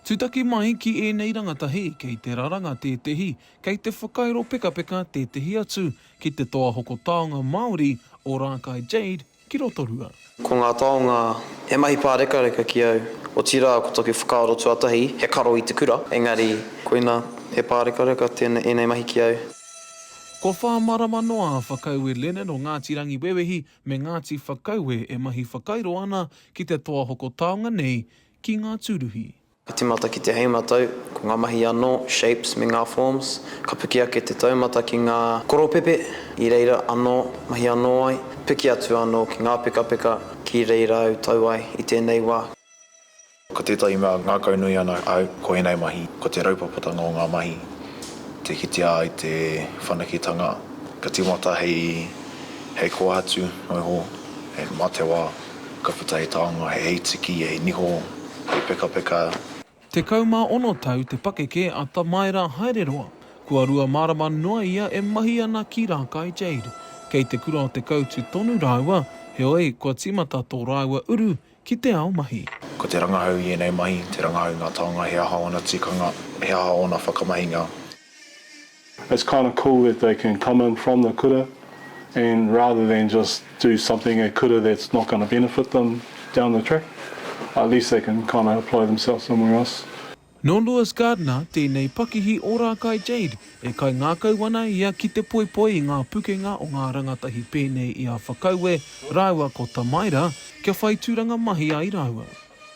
Tūtaki mai ki ēnei rangatahi kei te raranga tētehi, kei te whakairo pekapeka tētehi atu ki te toa hoko taonga Māori o Rākai Jade ki Rotorua. Ko ngā taonga he mahi pārekareka ki au, otirā ko taku whakaaro tuatahi he karo i te kura, engari koina he pārekareka tēnei ēnei mahi ki au. Kua whā marama noa a Whakaue Lennon o Ngāti Rangiwewehi me Ngāti Whakaue e mahi whakairo ana ki te toa hoko taonga nei ki ngā tūruhi. Ka tīmata ki te hēmatau, ko ngā mahi anō, shapes, me ngā forms, ka piki ake te taumata ki ngā koropepe, i reira anō, mahi anō ai, piki atu anō ki ngā pekapeka, ki reira au tau ai i tēnei wā. Ko tētahi mea ngākaunui ana au ko ēnei mahi, ko te raupapatanga o ngā mahi, te kitea ai te whanaketanga ka tīmata hei kōhatu noa iho, mā te wā ka puta he taonga, he heitiki, he niho, he pekapeka. Tekau mā ono tau te pakeke a Tamaera Haereroa, kua rua marama noa ia e mahi ana ki Rākai Jade. Kei te kura o Te Kautu tonu rāua, heoi, kua tīmata tō rāua uru ki te ao mahi. Ko te rangahau i ēnei mahi, te rangahau i ngā taonga, he aha ōna tikanga, he aha ōna whakamahinga. It's kind of cool that they can come in from the kura and rather than just do something at kura that's not going to benefit them down the track, at least they can kind of apply themselves somewhere else. Nō Lewis Gardner tēnei pakihi o Rākai Jade e kaingākau ana ia ki te poipoi i ngā pukenga o ngā rangatahi pēnei i a Whakaue rāua ko Tamaira kia whai tūranga mahi ai rāua.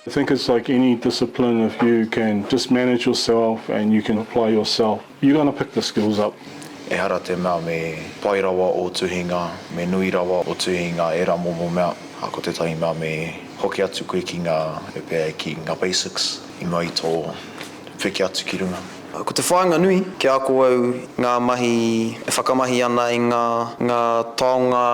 I think it's like any discipline if you can just manage yourself and you can apply yourself You gonna pick the skills up. Ehara te mea me pai rawa ō tuhinga, me nui rawa ō tuhi i ngā ērā momo mea, ā, ko tētahi mea me hoki atu koe ki ngā, e pēa ai ki ngā basics i mua i tō piki atu ki runga. Ko te whāinga nui, kia ako au i ngā mahi e whakamahi ana i ngā, ngā taonga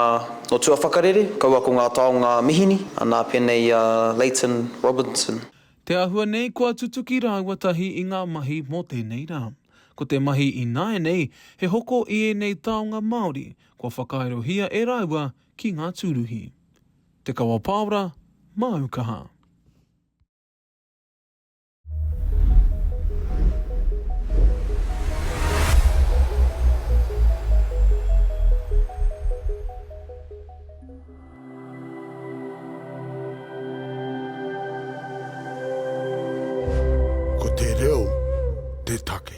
o tua whakarere, kaua ko ngā taonga mihini, nā pēnei a Leighton Robinson. Te āhua nei kua tutuki rāua tahi i ngā mahi mō tēnei rā. Ko te mahi ināianei he hoko i ēnei taonga Māori kua whakaaerohia e rāua ki ngā tūruhi. Te Kawa Pāora, Māu Kaha. Ko te reo te take.